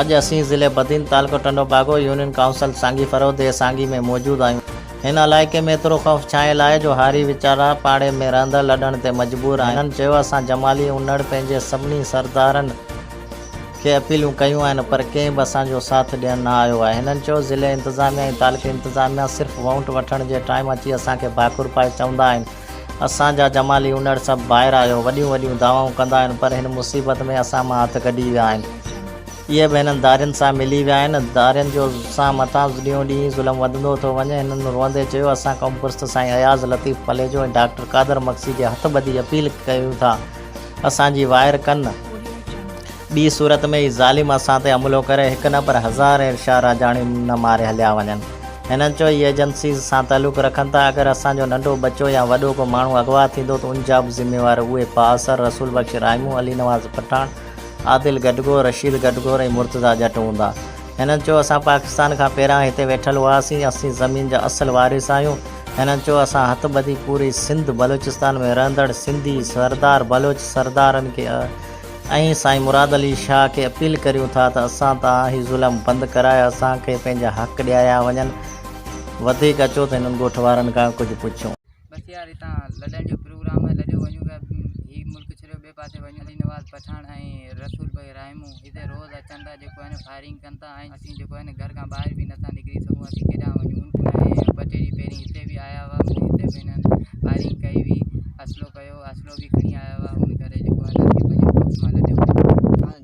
اڄ اسين ضلعي بدين تعلقو ٽنڊو باگو يونين ڪائونسل سانگي فرودي سانگي ۾ موجود آهيون. هن علائقي ۾ ايترو خوف ڇانيل آهي جو هاري ويچارا پاڙي ۾ رهندڙ لڏڻ تي مجبور آهن. هنن چيو اسان جمالي انڙ پنهنجي سڀني سردارن، کي اپيلون ڪيون آهن پر ڪنهن به اسان جو ساٿ ڏيڻ نه آيو آهي هنن چيو ضلعي انتظاميه ۽ تعلقي انتظاميه صرف وونٽ وٺڻ جي ٽائيم اچي اسان کي ڀاڪر پائي چوندا آهن اسان جا جمالي اونڙ سڀ ٻاهر آيو وڏيون وڏيون دعوائون ڪندا آهن پر هن مصيبت ۾ اسان مان هٿ ڪڍي ويا آهن اهي به هنن ڌارين سان ملي ويا آهن ڌارين جو سان مٿان ڏينهون ڏينهن ظلم وڌندو ٿو وڃي هنن روئندي چيو اسان قوم پرست سائين اياز لطيف پليجو ۽ ڊاڪٽر قادر مگسي جي هٿ ٻڌي اپيل ڪيون ٿا اسان جي وائر ڪن. ٻي صورت ۾ هي ظالم اسان تي حملو ڪري هڪ نه پر هزار ايرشا راڄاڻين نه ماري هليا وڃن. هنن چيو هي ايجنسيز سان تعلق رکن ٿا اگر اسان جو ننڍو ٻچو يا وڏو ڪو ماڻهو اغوا ٿيندو ته ان جا به ذميوار اهي بااثر رسول بخش رائمون، علي نواز پٺاڻ، عادل گڊگهور، رشيد گڊگهور ۽ مرتضيٰ ڄٽ هوندا. هن چيو اسان پاڪستان کان پهريان هتي ويٺل هئاسين، اسين زمين جا اصل وارث آهيون. هن چيو اسان هٿ ٻڌي پوري سنڌ بلوچستان ۾ رهندڙ سنڌي سردار بلوچ سردارن کي ۽ سائين مراد علي شاهه کي اپيل ڪريون ٿا ته اسان تان هي ظلم بند ڪرائي اسان کي پنهنجا حق ڏياريا وڃن، وڌيڪ اچو ته هنن ڳوٺ وارن کان ڪجهه پڇون. بس يار هتان لڏڻ جو پروگرام آهي لڏيو وڃون پيا هي ملڪ ڇڏيو ٻئي پاسي وڃون علي نواز پٺاڻ ۽ رسول ڀائي رائمو هتي روز اچن ٿا جيڪو آهي نه فائرنگ ڪن ٿا ۽ اسين جيڪو آهي نه گهر کان ٻاهر به نٿا نڪري سگهون اسين ڪيڏانهن وڃون ۽ ٻه ٽي ڏينهن پهرين هتي به آيا هئا هتي به هنن فائرنگ ڪئي هئي اصلو ڪيو اصلو به کڻي آيا هئا ان ڪري جيڪو آهي نه اسين پنهنجي ملڪ مان لڏيو وڃون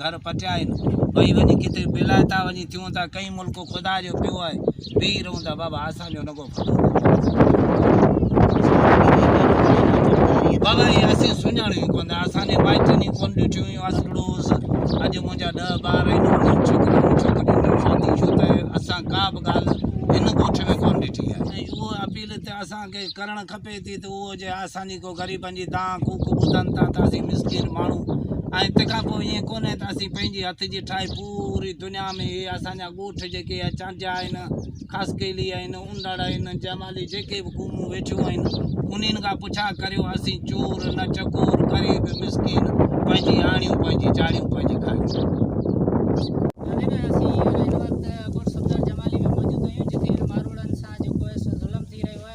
گهر پٽيائين ٻئي وڃي ڪٿي پيلائتا وڃي ٿيون ٿا ڪئين ملڪ خدا جو پيو آهي ويهي رهون ٿا بابا اسان جو نگو بابا هي اسين سڃاڻيون ڪون ٿا اسان جي مائٽن ئي ڪون ڏٺيون هيون اسلڙو هوس اڄ منهنجا ڏه ٻار آهن انهن ڇوڪريون ڇوڪريون شادي شو ته اسان ڪا به ڳالهه هن ڳوٺ ۾ ڪون ڏٺي آهي اهو اپيل ته اسان کي ڪرڻ کپي ٿي ته اهو جي اسان جي ڪو غريبن جي دانهن ڪوڪ ٻڌن ٿا ته اسين مسڪين ماڻهو ۽ تنهن کان پوء ائين ڪونهي ته اسين پنهنجي هٿ جي ٺاهي پوري دنيا ۾ اهي اسان جا ڳوٺ جيڪي آهن چانڊيا آهن خاصخيلي آهن انڙ آهن جمالي جيڪي به قومون ويٺيون آهن انهن کان پڇا ڪريو اسين چور نه چڪور غريب مسڪين پنهنجي آڻيون پنهنجي چاڙيون پنهنجي کائيون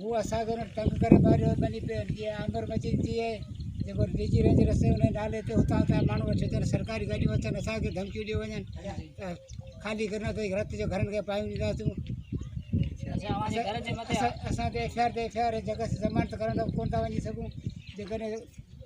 هو اسان کي هن تنگ ڪري ماريو ٻني پيرن جي آمر مچي ٿي وئي جيڪو ڊي جي رينج رستي هن نالي تي اتان اتان ماڻهو وٺي اچن سرڪاري گاڏيون اچن اسانکي ڌمڪيون ڏيو وڃن ته خالي ڪري نه اٿئي رت جو گهرن کي پايون ڏينداسون اسان تي ايف آر تي ايف آر جڳس ضمانت ڪرڻ لاء ڪونه ٿا وڃي سگهون جيڪڏهن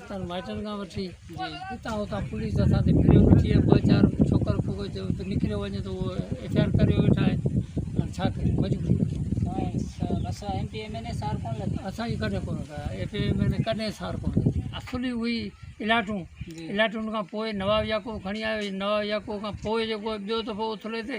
اسان مائٽن کان وٺي اتان اتان پوليس اسان تي ڦريو ويٺي آهي ٻه چار ڇوڪر ڦوڪر جو به نڪريو وڃي ته اهو ايف آر ڪريو ويٺا آهن هاڻي ڇا ڪريون مجبوري اسانجي ڪڏهن ڪونه ڪيا ايف ايم اين اي ڪڏهن سار ڪونه ڪيا اصل ئي هئي الاٽون الاٽون کان پوء نواب يعقوب کڻي آيو نواب يعقوب کان پوء جيڪو ٻيو دفعو اٿلي تي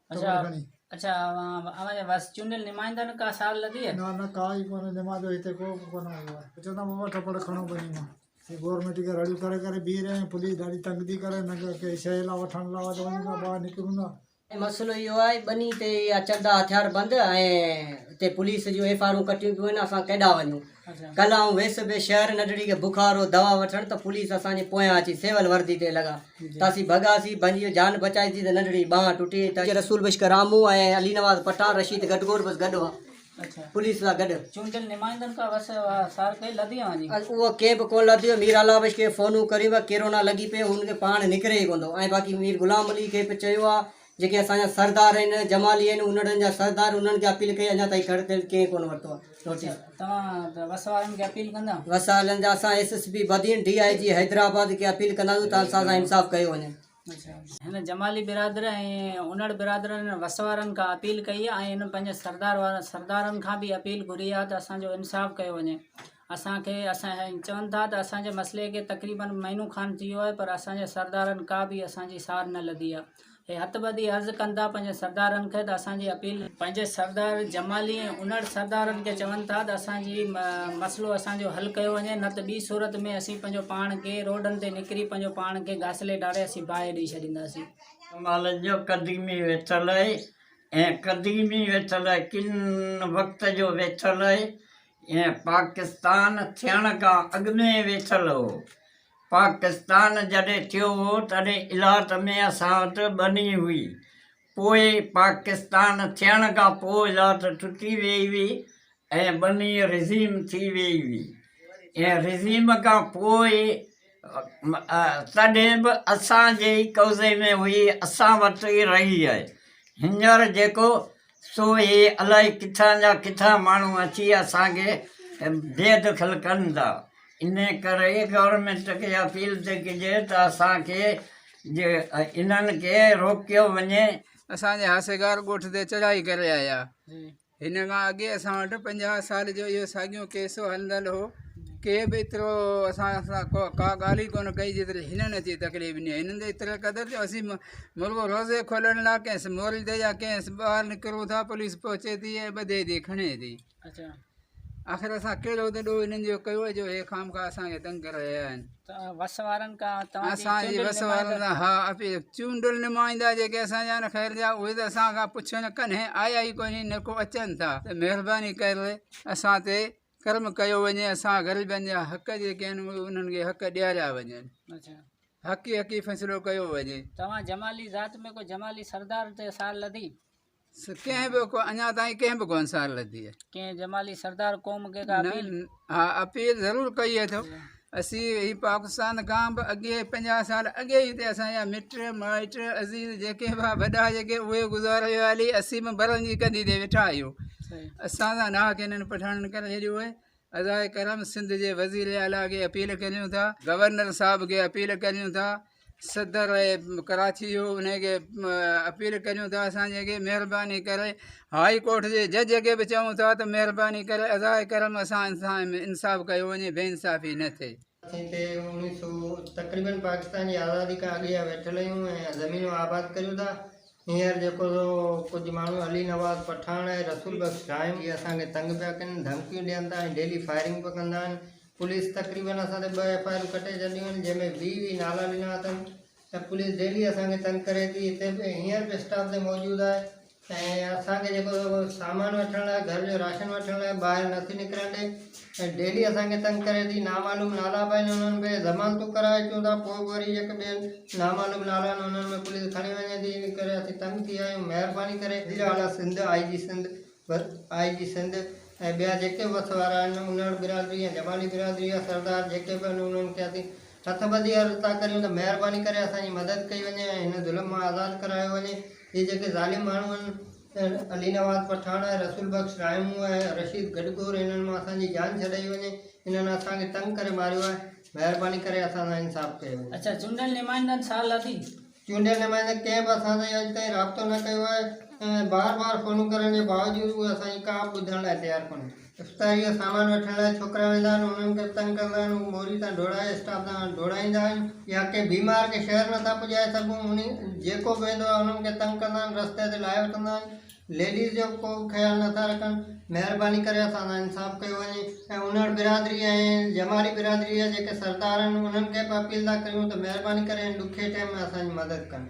اڇا اڇا اوهان جي وس چونڊيل نمائندا ۾ ڪا ساڙ لڌي آهي نه نه ڪا ئي ڪونه نمائندو هتي ڪو به ڪونه آيو آهي اچو ته بابا ٽپڙ کڻو پنهنجي مان هي گورنمينٽ کي رڙيون ڪري ڪري بيهي رهيا آهيون پوليس ڏاڍي تنگ ٿي ڪري هن کي ڪنهن شيء لاء وٺڻ لاء ته وڃون ٿا ٻاهر نڪرون ٿا مسئلو اهو آهي ٻني تي اها چندا هٿياربند ۽ هتي پوليس جون ايف آرون ڪٽيون پيون وڃن اسان ڪيڏانهن وڃون ڪلهه آئون ويس پئي شهر نڍڙي کي بخار هو دوا وٺڻ ته پوليس اسان جي پويان اچي سول وردي تي لڳا ته اسين ڀڳاسين ڀڄي جان بچائيسين ته نڍڙي ٻانهن ٽٽي ۽ تڏهن رسول بشڪ رامو ۽ علي نواز پٺاڻ رشيد گٽگوڙ بس گڏ هئا پوليس سان گڏ چونڊيل نمائندن کان وس سار ڪئي لڌي اوهان جي اهو ڪنهن به ڪونه لڌيو مير اعليٰ بشڪ کي فونون ڪريون پيا ڪيرونا لڳي پئي هو ان کي پاڻ نڪري ئي ڪونه ٿو ۽ باقي مير غلام علي کي به چيو آهي جيڪي اسان جا سردار آهن جمالي آهن انڙن جا سردار انهن کي اپيل ڪئي اڃا تائين گهر تيل ڪنهن ڪونه ورتو آهي نوٽيس توهان وس وارن کي اپيل ڪندا وس وارن جا اسان S S P Badin D I G Hyderabad کي اپيل ڪنداسون ته اسان سان انصاف ڪيو وڃي هن جمالي برادر ۽ انڙ برادرن وس وارن کان اپيل ڪئي آهي ۽ هن پنهنجي سردار وارن سردارن کان به اپيل گهري آهي ته اسان جو انصاف ڪيو وڃي اسان کي اسان ھين چون ٿا ته اسان جي مسئلي کي تقريبن مھينو کان ٿي ويو آھي پر اسان جي سردارن ڪا به اسان جي سار نه لڌي آھي اھي ھٿ ٻڌي عرض ڪن ٿا پنھنجي سردارن کي ته اسان جي اپيل پنھنجي سردار جمالي ۽ انڙ سردارن کي چون ٿا ته اسان جي مسئلو اسان جو حل ڪيو وڃي نه ته ٻي صورت ۾ اسين پنھنجو پاڻ کي روڊن تي نڪري پنھنجو پاڻ کي گاسلي ڍاري اسين باھه ڏئي ڇڏينداسين. شمال جو قديمي ويڇل آھي ۽ قديمي ويڇل آھي ڪن وقت جو ويڇل آھي ۽ پاڪستان ٿيڻ کان اڳ ۾ ويٺل هو. پاڪستان جڏهن ٿيو هو تڏهن الاٽ ۾ اسان وٽ ٻني هئي. پوء پاڪستان ٿيڻ کان پوء الاٽ ٽٽي ويئي هئي ۽ ٻني رزيم ٿي ويئي هئي ۽ رزيم کان پوء تڏهن به اسان جي ئي قبضي ۾ هئي اسان وٽ ئي رهي آهي هينئر جيڪو سو هي الائي ڪٿان جا ڪٿان ماڻهو اچي اسانکي بي دخل ڪن ٿا ان ڪري گورمينٽ کي اپيل ٿي ڪجي ته اسانکي جي انهن کي روڪيو وڃي اسان جي حاسيگار ڳوٺ تي چڙهائي ڪري آيا هن کان اڳي اسان وٽ پنجاهه سال جو اهو ساڳيو ڪيس هلندڙ هو ڪي به ايترو اسان سان ڪو ڪا ڳالهه ئي ڪونه ڪئي جيتري هنن اچي تڪليف ڏني هنن ته ايتري قدر جو اسين ملڪ روزي کولڻ لاء ڪيس موري تي يا ڪيس ٻاهر نڪرون ٿا پوليس پهچي ٿي ۽ ٻڌي ٿي کڻي ٿي آخر اسان ڪهڙو ڏوهه هنن جو ڪيو جو هي خام خواهه اسانکي تنگ ڪري رهيا آهن وس وارن کان توهان جي اسان جي وس وارن سان ها اپي چونڊل نمائندا جيڪي اسان جا نه خير جا اهي ته اسان کان پڇن ڪنهن آيا ئي ڪونهي نه ڪو اچن ٿا ته مهرباني ڪر اسان تي ڪرم ڪيو وڃي اسان غريبن جا حق جيڪي آهن اهي انهن کي حق ڏياريا وڃن حقي حقي فيصلو ڪيو وڃي توهان جمالي ذات ۾ ڪو جمالي سردار تي سال لڌي ڪنهن به ڪو اڃا تائين ڪنهن به ڪو انصار لڌي آهي ڪنهن جمالي سردار قوم کي ڪا اپيل ها اپيل ضرور ڪئي اٿو اسي هي پاڪستان کان به اڳي 50 سال اڳي هي ته اسان جا مٽ مائٽ عزيز جيڪي به وڏا جيڪي اهي گذاري ويا هلي اسي به برن جي ڪنڌي تي ويٺا آهيون اسان سان ناحق انهن پٺاڻن ڪري ڇڏيو آهي ادا ڪرم سنڌ جي وزير اعليٰ کي اپيل ڪريون ٿا گورنر صاحب کي اپيل ڪريون ٿا صدر ڪراچي جو ان کي اپيل ڪريون ٿا اسان جيڪي مهرباني ڪري هاء ڪورٽ جي جج کي به چئون ٿا ته مهرباني ڪري ادا ڪرم اسان سان انصاف ڪيو وڃي بي انصافي نه ٿئي اسين تي انيس سو تقريبن پاڪستان جي آزادي کان اڳي جا ويٺل آهيون ۽ زمينون آباد ڪريون ٿا هينئر جيڪو سو ڪجهه ماڻهو علي نواز پٺاڻ ۽ رسول بخش شاهين جي اسان کي تنگ پيا ڪن، ڌمڪيون ڏين ٿا ۽ ڊيلي فائرنگ به ڪندا آهن، پوليس تقريبن اسان تي ٻه ايف آء آرون ڪٽي ڇڏيون آهن جنهن ۾ ويهه ويهه نالا ڏنا اٿن ۽ پوليس ڊيلي اسان کي تنگ ڪري ٿي هتي به هينئر به اسٽاف تي موجود آهي ۽ اسان کي جيڪو سو سامان وٺڻ لاء گهر جو راشن وٺڻ لاء ٻاهر نٿي نڪرڻ ڏي. ۽ ڊيلي اسان کي تنگ ڪري ٿي نامعلوم نالا پنهنجا انهن ۾ ضمانتون ڪرائي اچون ٿا پوء به وري هڪ ٻين نامعلوم نالن انهن ۾ پوليس کڻي وڃي ٿي ان ڪري اسين تنگ ٿي ويا آهيون مهرباني ڪري وزير اعليٰ سنڌ آء جي سنڌ وس آء جي سنڌ ۽ ٻيا جيڪي به وس وارا آهن انڙ برادري يا جمالي برادري يا سردار جيڪي به آهن انهن کي اسين هٿ ٻڌي عرض ٿا ڪريون ته مهرباني ڪري اسان جي مدد ڪئي وڃي ۽ هن ظلم مان آزاد ڪرايو وڃي هي جيڪي ظالم ماڻهو آهن علي نواز پٺاڻ ۽ رسول بخش رائمون ۽ رشيد گڊگهور انهن مان اسان جي جان ڇڏائي وڃي انهن اسان کي تنگ ڪري ماريو آهي مهرباني ڪري اسان سان انصاف ڪيو وڃي. اچا چونڊيل نمائندن سال لڌي. چونڊيل نمائندن ڪنهن به اسان سان اڄ تائين رابطو نه ڪيو آهي ۽ بار بار فونون ڪرڻ جي باوجود اهي اسان جي ڪا به ٻڌڻ لاء تيار ڪونهن. افتاريء جو سامان وٺڻ لاء ڇوڪرا ويندا آهن، انهن کي به تنگ ڪندا آهن، هو موري تان ڍوڙائي اسٽاپ تان ڍوڙائيندا آهن، يا ڪنهن بيمار کي شهر نٿا پڄائي سگهون، انهي جيڪو به ويندو آهي انهن کي تنگ ڪندا آهن، رستي تي لاهي وٺندا آهن، ليڊيز جو به ڪو به خيال نٿا رکن، مهرباني ڪري اسان سان انصاف ڪيو وڃي ۽ انڙ برادري ۽ جمالي برادري جا جيڪي سردار آهن انهن کي به اپيل ٿا ڪريون ته مهرباني ڪري هن ڏکي ٽئم ۾ اسان جي مدد ڪن.